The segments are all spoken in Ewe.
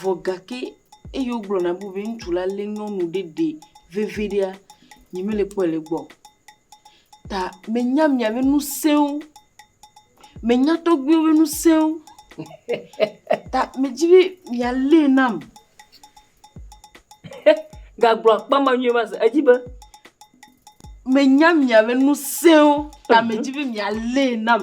Vɔ gake eye wogblɔ na be ŋutsu la lé nyɔnu ɖe ɖe veviɖea, nyemele kpɔe le egbɔ o. Ta menya mia ƒe ŋusẽwo, menya tɔgbuiwo ƒe ŋusẽwo. Ta medi be mialé nam. Gagblɔ akpa ma nyuie va se, edzi be. Menya mia ƒe ŋusẽwo, ta medi be mialé nam.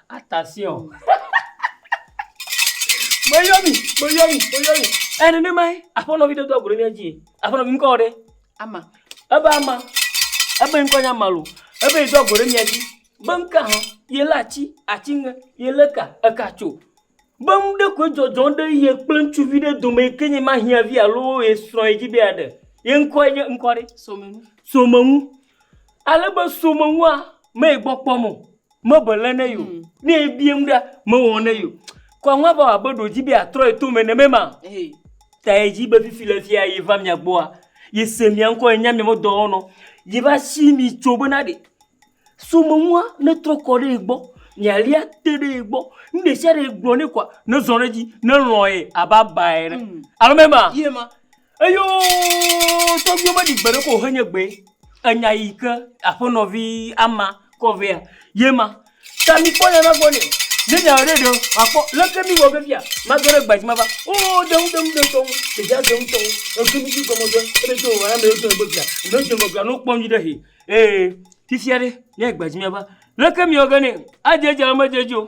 Attention! Meyɔ mi, meyɔ mi, meyɔ mi. Ɛ nenemae, aƒenɔ vi ɖe do agu ɖe mía dzi. Aƒenɔ vi ŋkɔ ɖe? Ama. Ebe ama. Ebe ŋkɔ nye ama lo. Ebe yi do agu ɖe mía dzi. Be ŋka hã, ye lé atsi, atsi ŋe, ye lé ka, eka tso. Be ŋu ɖe koe dzɔdzɔ ɖe ye kple ŋutsuvi ɖe dome yi ke nye ma hiã vi alo ye srɔ̃ ye dzi be yeaɖe. Ye ŋkɔe nye ŋkɔ ɖe? Somenu. Somenu. Ale be someŋua mee gbɔ kpɔm o, mebe le ne yo. Mm. Ne ebiem ɖa, mewɔ ne yo. Kɔŋua va wɔ abe ɖo dzi be atrɔ ye tome ne mema. Hey. Ta ye dzi be fifi le fia ye va mia gbɔa, ye se mia ŋkɔ ye nya mia me dɔwɔnɔ, ye va si mi tso bena ɖe. Someŋua ne trɔ kɔ ɖe ye gbɔ, mia lia te ɖe ye gbɔ, nu ɖe sia ɖe gblɔ ne kɔa, ne zɔ ɖe dzi, ne lɔ ye abe aba ene. Mm. Alo mema. Ye ma. Eyoo tɔgbuiwo meɖi gbe ɖe ko o henye gbee. Enya yi ke aƒenɔvi ama kɔ vea ye ma. Ta mikpɔ nya ma gbɔ nɛ. Ne nya ɖe ɖe akpɔ leke mi wɔ vevia mage ɖe gbadzi mava. O deŋu deŋu de tɔwo. Ɖevia deŋu tɔwo. Eke mi dzi gɔme dɔ ebe tso o ame yotɔ egbe via. Ame yotɔ egbe via no kpɔ nyuɖe he. Ee fifia ɖe ne gbadzi mava. Leke mi wɔ ge nɛ. Adze edzi alo medze edzi o.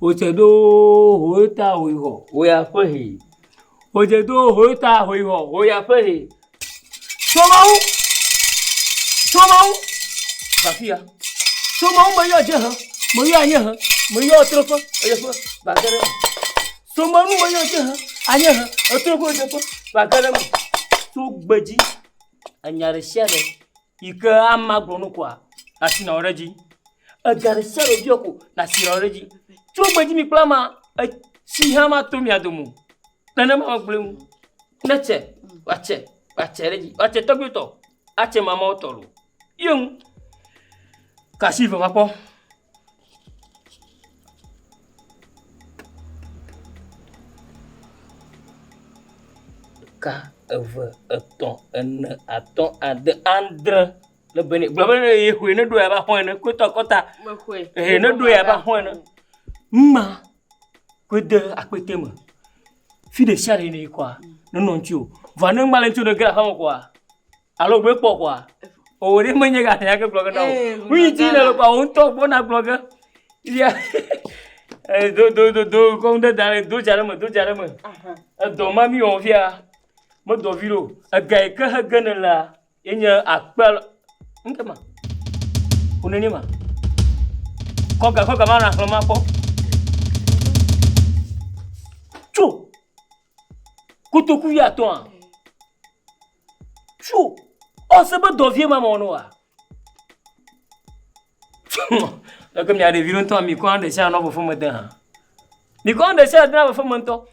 Wodze ɖoo hoyota hoyihɔ hoya ƒe he. Wodze ɖoo hoyota hoyihɔ hoya ƒe he. Tso Mawu, tso Mawu, va afi ya. Tso Mawu meyɔ dziehe, meyɔ anyiehe, meyɔ ɣetoɖoƒe, ɣedzeƒe, va ge ɖe eme. Tso Mawu nu meyɔ dziehe, anyiehe, ɣetoɖoƒe, ɣedzeƒe, va ge ɖe eme. Tso gbe dzi, enya ɖe sia ɖe. Yi ke amea gblɔ nu koa, nàsi nàwɔ ɖe edzi. Ega ɖe sia ɖe wòbiɔ ko, nàsi nàwɔ ɖe edzi. Tso gbedzi mi kple amea, etsi hã mato mia dome o. Nenema megblɔe ŋu. Ne tse, woatse, woatse ɖe edzi. Woatse tɔgbuiwo tɔ, atse mamaawo tɔ loo. Ye ŋu. Ka asi veva kpɔ. ɖeka eve etɔ̃ ene atɔ̃ ade andre le be ne gblɔ be ne ye xɔe ne ɖo ya ba xɔe ne kotɔ kɔta mexɔe ehe ne ɖo ya ba xɔe ne ŋma koe de akpɛtɛ me fi ɖe sia ɖe ne kɔa nenɔ ŋuti o vɔ ne ŋma le ŋuti o ne ge aƒeme kɔa Alo gbe kpɔ kɔa? Owó ɖe menye gã ya ke gblɔ ge na o. Nu yi ti le kɔa wo ŋutɔ gbɔ na gblɔ ge. Ya eh, do do do do kɔ ŋu ɖe da ɖe do dza ɖe me do dza ɖe me. Edɔ ma mi wɔ fia me dɔ vi ɖo. Ega yi ke he ge ne la ye nye akpe alo ŋke ma. Wo ne ne ma. Kɔ ga kɔ ga ma na xlɔ ma kpɔ. Tso. Kotoku ya tɔa. Tsu, ɔ se be dɔ vie ma mɔ no wa. Leke mia ɖevi ɖo ŋutɔ mi kɔ ɖe sia nɔ fefe me de hã. Mi kɔ ɖe sia de na fefe me ŋutɔ.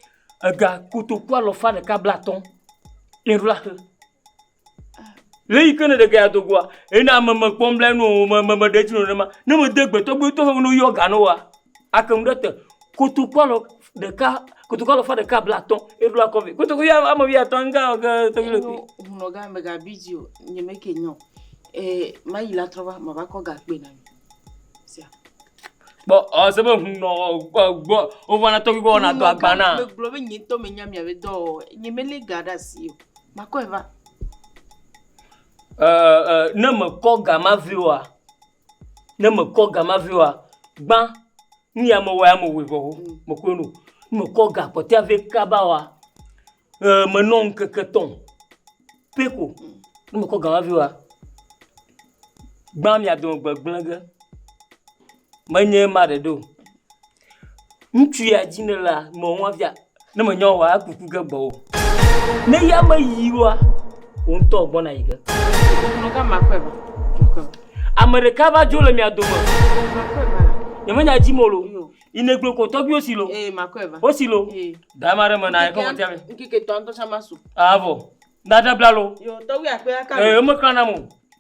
Ega kotoku alɔfa ɖeka bla atɔ. Ye ɖo la xe. Le yi ke ne ɖe gaya dogoa, ena ame me kpɔm bla nu o me me me ɖe dzi no ne ma. Ne me de gbetɔ gbetɔ he no yɔ ga no wa. Ake mu ɖe te. Kotoku alɔ ɖeka, kotoku alafa ɖeka blaatɔ̃, eɖoa kɔve. Kotoku ya ame wuiatɔ̃ ŋka wɔ ge tɔgbi le kui. Hunɔga mègabi dzi o, nye meke nya o. Ee, mayi la trɔ va, mava kɔ gakpoe na mi. Sia. Kpɔ ɔ se be hunɔ gbɔ gbɔ wovana tɔgbi gbɔ wɔna dɔ agba na. Megblɔ be nye ŋutɔ menya mia be dɔ wɔwɔ. Nye melé ga ɖe asi o. Makɔe va. Ɛ ɛ ne mekɔ ga ma vɛ oa? Ne mekɔ ga ma vɛ oa, gbã nu ya mewɔ ya mewɔe vɔ ho, mekpɔe nu. Ne mekɔ ga kpɔtɔea vɛ kaba oa, ʋe menɔ ŋkeke tɔ̃ pɛ ko. Ne mekɔ ga ma vɛ oa, gbã mia dome gbegblẽ ge. Menye ema ɖeɖe o. Ŋutsu ya dzi nèlea, mewɔ nua fia. Ne mènya oa, eku ƒu ge gbɔwò. Ne ya meyi oa, wò ŋutɔ gbɔna yi ge. Ame ɖeka va dzo le mia dome. Nyemenya dzi mo lo. Yi negblɔ ko tɔgbiwo si lo. Wo si lo. Da ema ɖe me na ekɔ ŋɔtia me. Avɔ. Nada bla lo. Ee, emeklã nam o.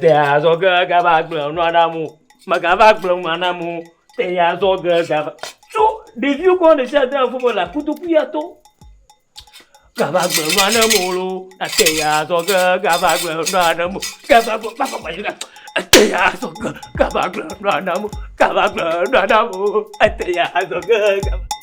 Te azɔ ge gava gblẽ nua na amewo. Megava gblẽ nua na amewo. Te azɔ ge gava. So ɖeviwo kɔ ɖe sia ɖe ƒe me le kotoku ya to. Gava gblẽ nua na amewo loo. Te azɔ ge gava gblẽ nua na amewo. Gava gblẽ nua na amewo. Te azɔ ge gava gblẽ nua na amewo. Gava gblẽ nua na amewo. Te azɔ ge gava.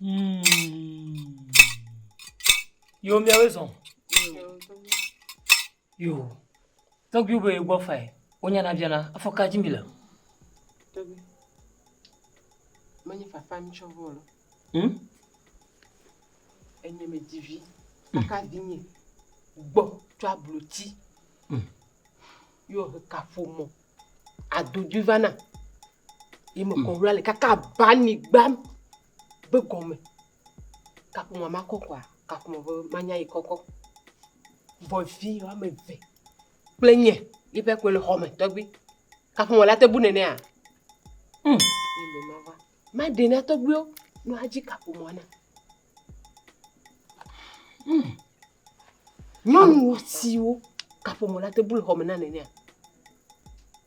Hmm. Yo miawe zɔn. Yo. Tɔgbiwo be gbɔ fa yi. Wonya na biana afɔ ka dzi mi le. Tɔgbi. Menye fafa mi tsɔ vɔ lɔ. Hmm. Enye me divi. Aka vinye. Gbɔ tsɔ abloti. Hmm. Yo he kafo mo. Adudu vana. yi me kɔ wla le kaka ba anyigba be gɔme kaƒomɔ ma kɔkɔa kaƒomɔ be manya yi kɔkɔ bɔvi woame eve kple nye yi ƒe kɔe le xɔme tɔgbi kaƒomɔ la te bu nenea mm. ma ɖe na tɔgbiwo no adzi kaƒomɔ na mm. nyɔnu siwo kaƒomɔ la te bu le xɔme na nenea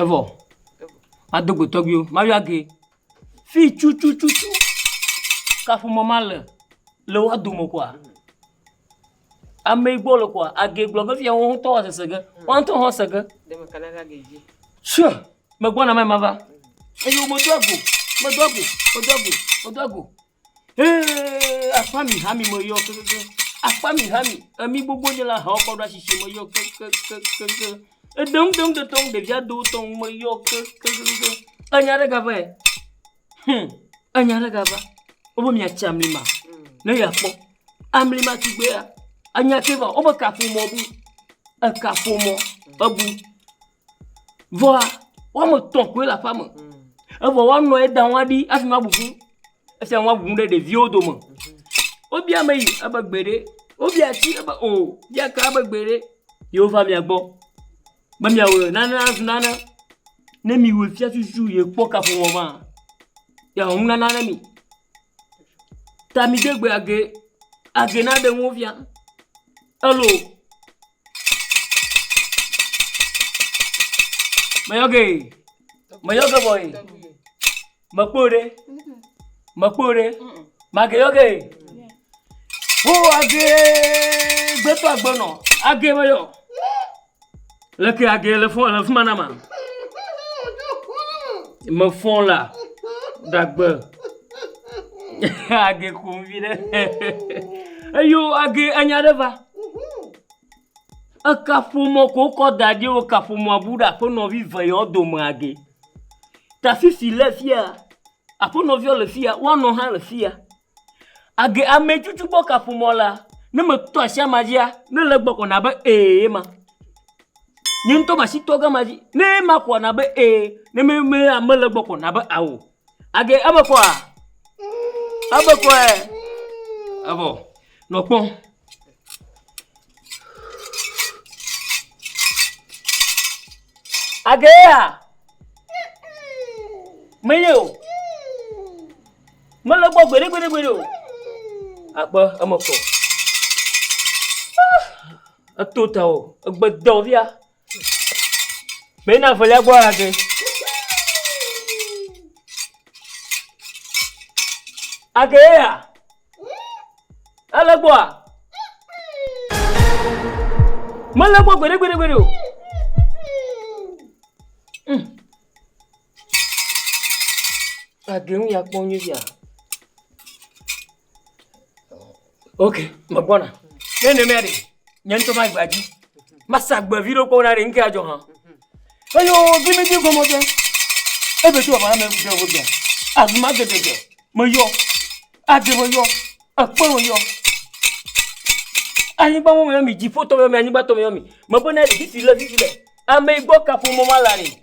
Evɔ, mado go tɔgbuiwo, mayɔ age fi tututu kaƒomɔ ma le le woa dome koa, ame yi gbɔ le koa, age gblɔ vevi ya wo ŋutɔ woa sese ge, woa ŋutɔ hã woa se ge. Sure, megbɔna meva, eye womedo ago, medo ago, medo ago, medo ago. Hee akpa mi hami me yɔ kekeke. Akpa mi hami emi gbogbo nye la hawo kɔ ɖa sisi me yɔ kekekekeke. Edeŋ deŋ de tɔŋ ɖevia do tɔŋ me yɔ kekekeke. Enya ɖe gava ɛ. Hum enya ɖe gava. Wobe miatsi amli ma ne yeakpɔ. Amli ma tugbea anya ke va wobe kaƒomɔ bu. Ekaƒomɔ ebu. Vɔa, woame tɔ̃ koe le aƒeame. Evɔ woanɔ ye da woaɖi afi ma abubu. Esia woabu ɖe ɖeviwo dome. Wobia meyi ebe gbeɖe. Wobia atsi ebe o. Wobia ka ebe gbeɖe. Ye wova mia gbɔ be miawɔe nane nazu nane. Ne miwɔe fia tututu ye kpɔ kaƒomɔ maa, yeaxɔ nunana ne mi. Tamidegbe age age naɖe ŋu wofia elo meyɔ ge meyɔ ge vɔ yi mekpɔ o ɖe mekpɔ o ɖe mage yɔ ge ho age gbetɔ agbenɔ age meyɔ. Leke agee le fɔ le fima na ma. Me fɔ la dagbe. age kum vi ɖe. Eyo age enya ɖe va. Eka ƒomɔ ko kɔ da ɖi o ka ƒomɔ bu ɖe aƒenɔ vi ve yɔ dome age. Ta fifi le fia. Aƒenɔ viɔ le fia. Woanɔ hã le fia. Age ametutu gbɔ kaƒomɔ la, ne meto asi ama dzia, ne le egbɔ ko na be ee ye ma. Nye ŋutɔ masi tɔ ɖe ama dzi. Ne ye ma koa na be ee. Ne me me mele egbɔ ko na be ao. Age eme kɔa eme kɔe evɔ nɔ kpɔ. Age yea me ye o. Mele gbɔ gbeɖegbeɖegbeɖe o. Akpe eme kɔ. Eto ta o. Egbe dɔ via. Mɛ na velia gbɔ age. Age ye ya. Ele gbɔa? Mele gbɔ gbeɖegbeɖegbeɖe o. Mm. Eɖee ŋu ya kpɔ nyuie fia. Ok, me gbɔna. Ne ne mea ɖe, nye ŋutɔ ma gba dzi. Masa gbe vi ɖe kpɔ na ɖe ŋkea dzɔ hã. Eyo, vi mi dzi gɔmɔ dze. Ebe tu ɔba me ɖe wo dze. Azuma gede dze. Me yɔ. Adze me yɔ. Ekpe me yɔ. Anyigba mo me mi dzi fo tɔ me mi anyigba tɔ me mi. Me bo na ɖe vivi le vivi le. Ame igbɔ kapo mo ma la ni.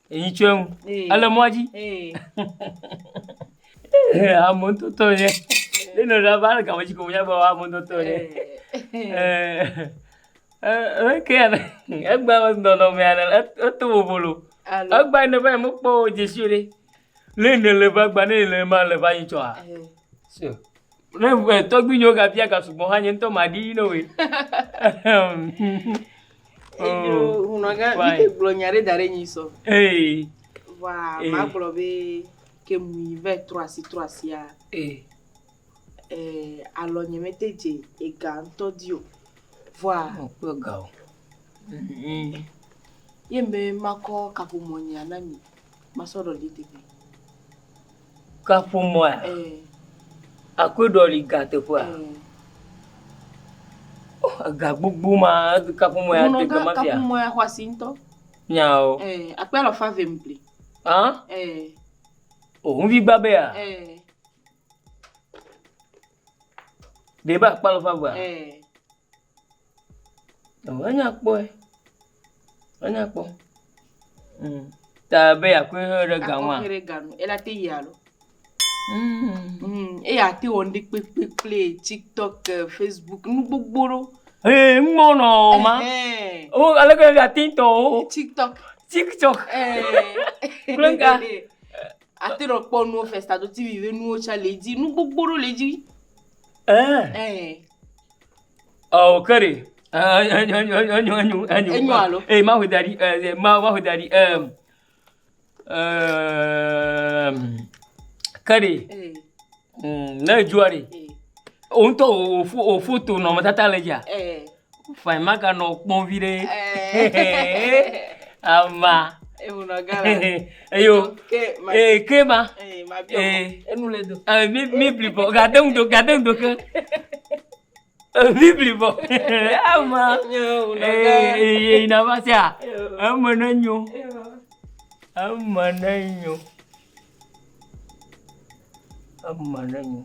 Eyi tso eŋu. Ele mɔa dzi. Ame ŋutɔtɔ nye. Ne nɔ ɖe va le game dzi ko nya be ame ŋutɔtɔ nye. Ee ke ya egba nɔnɔme ya eto bobolo. Egba ne va me kpɔ dzesi o ɖe. Ne ne le va gba ne le ma le va yi tsɔa. So. Ne tɔgbi nyo ga bia ga sugbɔ hã nye ŋutɔ ma ɖi no we. Edzo hunɔgã mi ke gblɔ nya ɖe da ɖe nyi sɔ. Ee. Wa ma gblɔ be ke mu yi ve trɔ asi trɔ asia. Ee. Ee alɔ nye me te dze ega ŋutɔ di o. Vɔa. Mo kpɔ ga o. Mhm. Ye me makɔ kaƒomɔ nya na mi. Masɔ ɖɔ di teƒe. Kaƒomɔa? Akɔe ɖɔli ga teƒea? Ega gbogbo ma kaƒomɔ ya te gama fia. Kaƒomɔ ya xɔ asi ŋutɔ. Nyao. Akpe alɔfa ve ŋpli. Hã? O ŋvi gba be ya? Ɖe be akpa alɔfa evea? Eh. Oh, enya kpɔe. Enya kpɔ. Mm. Ta be yakɔe hɛ ɖe ga ŋua. Akɔe ɖe ga nu. Ela te yi alo. Mm. Mm. Eya te wɔ ndi kpekpekple TikTok, eh, Facebook, nu gbogbo ɖo. Ee, ŋmɔ nɔ o ma. Eh. O ale ke ga tin tɔ o. TikTok. TikTok. Eh. Kple ŋka. Ate nɔ kpɔ nuwo festa do TV ve nuwo tsa le edzi. Nu gbogbo ɖewo le edzi. Ɛɛ. Ɛɛ. Ɔ ke ɖe. Enyo enyo enyo. Enyo alo. Ee ma ƒo da ɖi ɛɛ ma ma ƒo da ɖi ɛɛ. Ɛɛ. Ke ɖe. Ee. ne edzua ɖi wò ŋutɔ wò foto nɔnɔmetata le dzia fine maganɔ kpɔm viɖe ama eyo ee ke ma ee mi mi blibɔ gade ŋdo gade ŋdo ke. Bibli bɔ ama eye na va se a eme ne nyo eme ne nyo eme ne nyo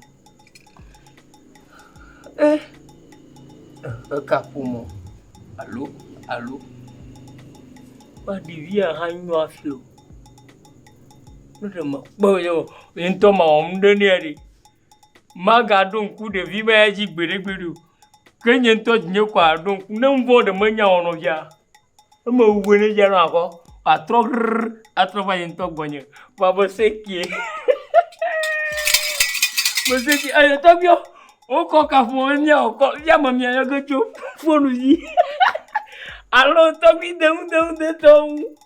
e ekaƒomɔ alo alo ba ɖevia hã nyo afi o ne ɖe mekpɔ ye ŋutɔ mawɔ nu ɖe nɛ ɖi. Magaɖo ŋku ɖevi ma ya dzi gbeɖegbeɖe o. Ke nye ŋutɔ dzi nye kɔ aɖo ŋku. Ne nu vɔ̃ ɖe menya o nɔvia, ne mewu be ne via nɔa kɔ, atrɔ ʋrr atrɔ va nye ŋutɔ gbɔnye. Vɔa me sẽ kie me sẽ kie eyi tɔgbuiwo wokɔ kaƒomɔ be miawɔ kɔ via me miayɔ ge tso fonu dzi alo tɔgbui deŋudeŋu detɔwo ŋu.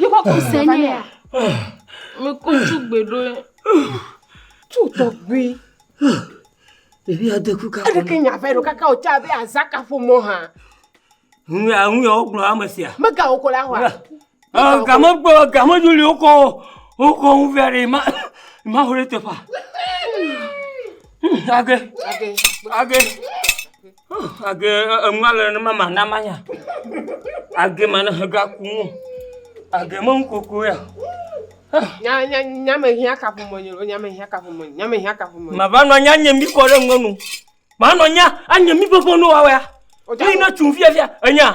Yíkɔ kɔ se nɛ ya. Mi kɔ tu gbe ɖo. Tu tɔgbi. Ɖevi ade ku ka. Eɖe ke nya vɛ ɖo kaka o tsa be azaka ƒomɔ hã. Nu ya nu ya wo gblɔ ame sia. Mega wo ko la hwa. Ɔ game gbɔ game juli wo ko wo ko ŋu vɛ ɖe ma ma ho ɖe teƒa. Age. Age. Age. Agee enua le nenema mana manya. Agee mana hega ku nu. Agee me ŋkoko ya. Nya nya nya me hia kafu mo nyo. Nya me hia kafu mo. Nya me hia kafu mo. Ma va no nya nye mi ko le ngonu. Ma no nya anye mi bebo no wa wa. Oja na tun via via enya.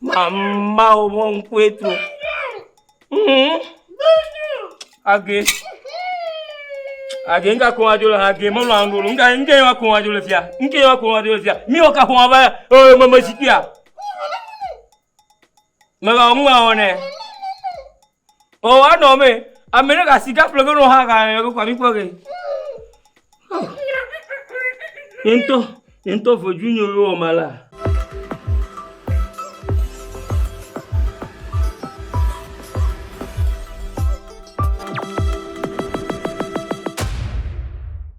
Mamawo ƒe ŋkue tro. Hũhɔ̃. Age, age nu ka ƒom adzo le hã? Age melɔ̃ ame ɖe o. Nu ka, nu ka ye ma ƒom adzo le fia? Nu ka ye ma ƒom adzo le fia? Mi wɔ ka ƒom ava ya? Eo meme zikpuia. Meva, nu ma wɔnɛ. Ɔɔ anɔ eme ye. Ame ɖe ga sika ƒle ge nɔ ha ga le kɔkɔa mi kpɔ ge. Ye ŋutɔ, ye ŋutɔ vodui nyo ye wɔ ma la.